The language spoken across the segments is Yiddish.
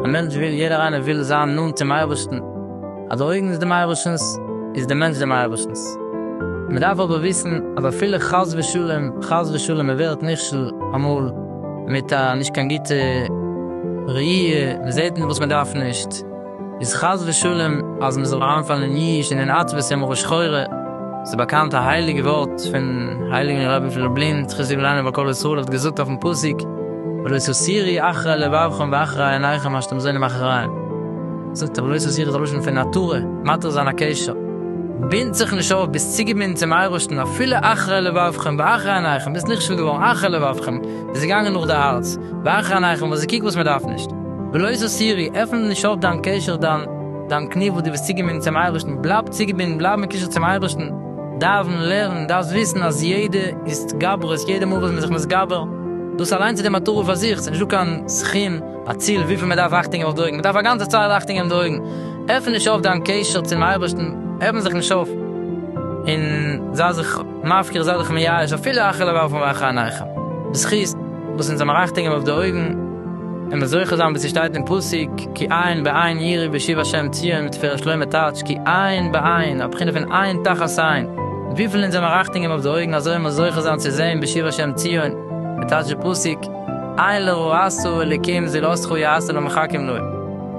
א מענטש וויל, יעדער איינער וויל זיין נאנט צום אייבערשטן, אז די אויגן איז דעם אייבערשטנ'ס, איז דער מענטש דעם אייבערשטנ'ס. מען דארף אבער וויסן אז אפילו חס ושלום, חס ושלום מען ווערט נכשל אמאל מיט א נישט קיין גוטע ראי', מען זעט וואס מען דארף נישט, איז חס ושלום אז מען זאל אריינפאלן אין ייאוש און אין עצבות און מרה שחורה. ס'איז באקאנט א הייליגע ווארט פון הייליגן רבי פון לובלין זכותו יגן עלינו ועל כל ישראל האט געזאגט אויפן פסוק ולא תסירי אחרי לבבכם ואחרי עיניכם מה שאתם זונים אחריהם. זאגט ער ולא תסירי איז א לשון פון נטורי, מתיר זיין א קשר. בינד זיך נישט אויף, ביסט צוגעבינדן צום אייבערשטן אפילו אחרי לבבכם ואחרי עיניכם, ביסט נכשל געווארן אחרי לבבכם, ביסט געגאנגען נאך די הארץ, ואחרי עיניכם, וואס איז קוק וואס מען דארף נישט. בלויז אויף סירי, עפן נישט אויף דיין קשר דיין דיין קני וואס דו ביסט צוגעבינדן צום אייבערשטן, בלייב צוגעבינדן בלייב אין קשר צום אייבערשטן, דאווען, לערן, דארפסט וויסן אז יעדע התגברות, יעדע מאל וואס מ'איז זיך מתגבר, דאס אליינס איז די מטרה פאר זיך, ס'נישט דא קיין סכום, א ציל וויפיל מ'דארף אכטונג געבן אויף די אויגן, מ'דארף א גאנצע צייט אכטונג געבן די אויגן, עפן נישט אויף דיין קשר צום אייבערשטן, עפן זיך נישט אויף, און זיי זיך מפקיר, זיי זיך מייאש, אפילו אכלה ואכלו ואכהה עיניכם, בזכות. וואס אונז זעמיר רייכטיג אים אויף די אויגן, און מען זוכה זיין ווי ס'שטייט אין פסוק, כי עין בעין יראי בשיב השם ציון מיט תפארת שלמה טייטש כי עין בעין, א בחינה פון עין תחת עין, מיט וויפיל אונז זעמיר רייכטיג אים אויף די אויגן אזוי מען זוכה זיין צו זעהן בשיב השם ציון, ווי טייטש די פסוק, עין לרעה עשו אלוקים זי לא זכו יעשה לא מחכים לו,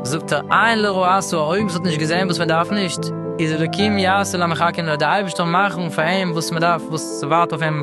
זאגט ער עין לרעה עשו א אויג וואס האט נישט געזעהן וואס מען דארף נישט, איז אלוקים יעשה לא מחכים לו די אייבערשטער מאכן פאר אים וואס מען דארף וואס ס'ווארט אויף אים.